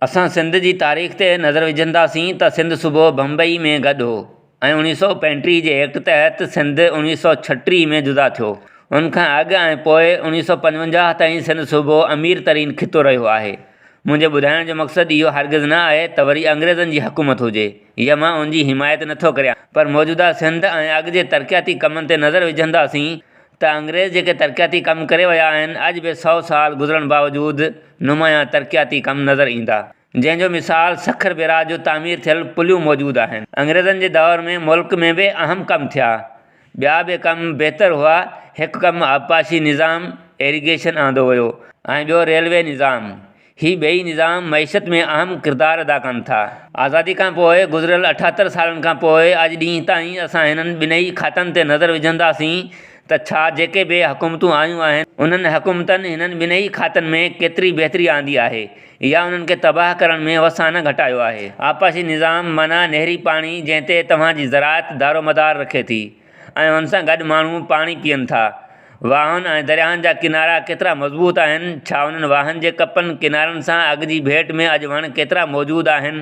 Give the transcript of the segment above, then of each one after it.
اسان سنڌ جي تاريخ تي نظر وجهنداسين ته سنڌ صوبو بمبئي ۾ گڏ هو ۽ اوڻيهه سؤ پنجٽيهه جي ايڪٽ تحت سنڌ اوڻيهه سؤ ڇهٽيهه ۾ جدا ٿيو. ان کان اڳ ۽ پوء اوڻيهه سؤ پنجونجاهه تائين سنڌ صوبو امير ترين خطو رهيو آهي. منهنجي ٻڌائڻ جو مقصد اهو هرگز نه آهي ته وري انگريزن جي حڪومت هجي يا مان ان جي حمايت نٿو ڪريان پر موجوده سنڌ ۽ اڳ جي ترقياتي ڪمن تي نظر وجهنداسين ته انگريز جيڪي ترقياتي ڪم ڪري ويا آهن، اڄ به سؤ سال گذرڻ باوجود نمايان ترقياتي ڪم نظر ايندا، جنهن جو مثال سکر بيراج جو تعمير ٿيل پليون موجود آهن. انگريزن جي دور ۾ ملڪ ۾ به اهم ڪم ٿيا، ٻيا به ڪم بهتر هئا، هڪ ڪم آبپاشي نظام، Irrigation، آندو ويو ۽ ٻيو ريلوي نظام، هي ٻئي نظام معيشت ۾ اهم ڪردار ادا ڪن ٿا. آزادي کان پوء گذريل اٺهتر سالن کان پوء اڄ ڏينهن تائين اسان هنن ٻنهي کاتن تي نظر وجهنداسين ته ڇا جيڪي به حڪومتون آيون آهن انهن حڪومتن هنن ٻنهي کاتن ۾ ڪيتري بهتري آندي آهي يا انهن کي تباهه ڪرڻ ۾ وسانه گهٽايو آهي. آبپاشي نظام معنيٰ نهري پاڻي جنهن تي توهان جي زراعت دارومدار رکي ٿي. ۽ ان سان گڏ ماڻهو پاڻي پيئن ٿا. واهن ۽ درياهن جا ڪنارا ڪيترا مضبوط آهن، ڇا انهن واهن جي ڪپن ڪنارن سان اڳ جي ڀيٽ ۾ اڄ وڻ ڪيترا موجود آهن؟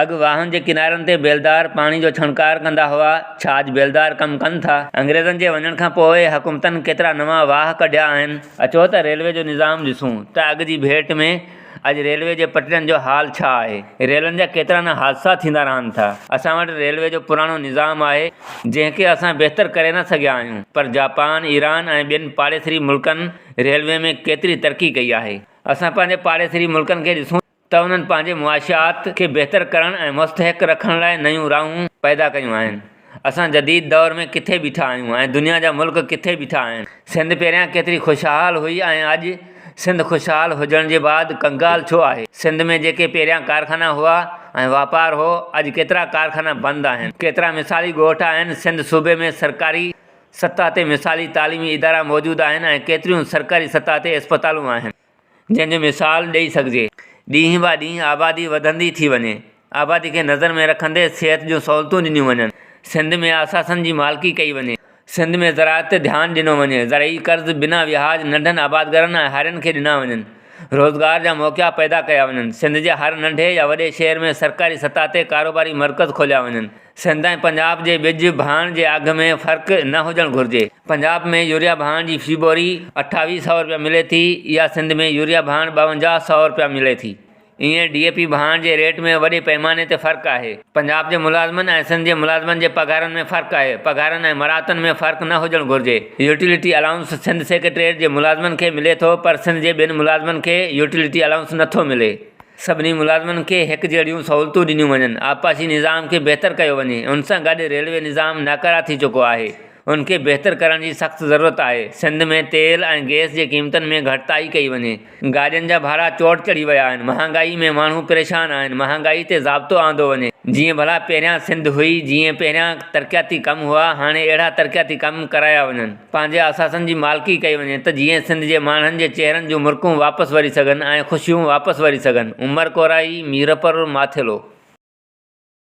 اڳ واهن جي ڪنارن تي بيلدار پاڻي جو ڇڻڪار ڪندا هئا، ڇا اڄ بيلدار ڪم ڪن ٿا؟ انگريزن جي وڃڻ کان پوء حڪومتن ڪيترا نوان واهه ڪڍيا آهن؟ اچو ته ريلوي جو نظام ڏسون ته اڳ جي ڀيٽ ۾ اڄ ريلوي جي پٽڙين جو حال ڇا آهي؟ ريلن جا ڪيترا نه حادثا ٿيندا رهن ٿا. اسان وٽ ريلوي جو پراڻو نظام آهي، جنهن کي اسان بهتر ڪري نه سگهيا آهيون، پر جاپان، ايران ۽ ٻين پاڙيسري ملڪن ريلوي ۾ ڪيتري ترقي ڪئي آهي. اسان پنهنجي پاڙيسري ملڪن کي ڏسون ته انهن پنهنجي معاشيات کي بهتر ڪرڻ ۽ مستحڪ رکڻ لاء نيون راهون پيدا ڪيون آهن. اسان جديد دور ۾ ڪٿي بيٺا آهيون ۽ دنيا جا ملڪ ڪٿي بيٺا آهن. سنڌ پهريان ڪيتري خوشحال هئي ۽ اڄ سنڌ خوشحال هجڻ جي بعد ڪنگال ڇو آهي. سنڌ ۾ جيڪي پهريان ڪارخانا هئا ۽ واپار هو اڄ ڪيترا ڪارخانا بند آهن. ڪيترا مثالي ڳوٺ آهن. سنڌ صوبي ۾ سرڪاري سطح تي مثالي تعليمي ادارا موجود آهن ۽ ڪيتريون سرڪاري سطح تي اسپتالون آهن. جنهن جو مثال ڏئي سگهجي. ڏينهن با ڏينهن آبادي وڌندي ٿي وڃي. آبادي کي نظر ۾ رکندي صحت جون سهولتون ڏنيون وڃن. سنڌ ۾ اثاثن جي مالڪي ڪئي وڃي. سنڌ ۾ زراعت تي ڌيان ڏنو وڃي. زرعي قرض بنا وياج ننڍن آبادگرن ۽ هارين کي ڏنا وڃن. روزگار جا موقعا پيدا ڪيا وڃن. سنڌ جي هر ننڍي يا وڏي شهر ۾ سرڪاري سطح تي ڪاروباري مرڪز کوليا وڃن. سنڌ ۽ پنجاب جي ٻج ڀاڻ جي اگهه ۾ فرق نه هجڻ گهرجي، پنجاب ۾ يوريا ڀاڻ جي في بوري اٺاويهه سئو رپيا ملي ٿي اها سنڌ ۾ يوريا ڀاڻ ٻاونجاهه سئو رپيا ملي ٿي ايئن ڊي اي پي ڀاڻ جي ريٽ ۾ وڏي پئماني تي فرق آهي، پنجاب جي ملازمن ۽ سنڌ جي ملازمن جي پگهارن ۾ فرق آهي، پگهارن ۽ مراعتن ۾ فرق نه هجڻ گهرجي، يوٽيلٽي الائونس سنڌ سيڪريٽريٽ جي ملازمن کي ملي ٿو پر سنڌ جي ٻين ملازمن کي يوٽيلٽي الائونس نٿو ملي. سڀني ملازمن کي هڪجهڙيون سهولتون ڏنيون وڃن، آبپاشي نظام کي بهتر ڪيو وڃي، ان سان گڏ ريلوي نظام ناڪاره ٿي چڪو آهي، ان کي بهتر ڪرڻ جي سخت ضرورت آهي، سنڌ ۾ تيل ۽ گئس جي قيمتن ۾ گهٽتائي ڪئي وڃي، گاڏين جا ڀاڙا چوٽ چڙهي ويا آهن، مهانگائي ۾ ماڻهو پريشان آهن، مهانگائي تي ضابطو آندو وڃي، جيئن ڀلا پهريان سنڌ هئي، جيئن پهريان ترقياتي ڪم هئا، هاڻي اهڙا ترقياتي ڪم ڪرايا وڃن. پنهنجي اثاثن جي مالڪي ڪئي وڃي ته جيئن سنڌ جي ماڻهن جي چهرن جون مرڪون واپس وري سگهن ۽ خوشيون واپس وري سگهن، عمر ڪورائي، ميرپور، ماٿيلو.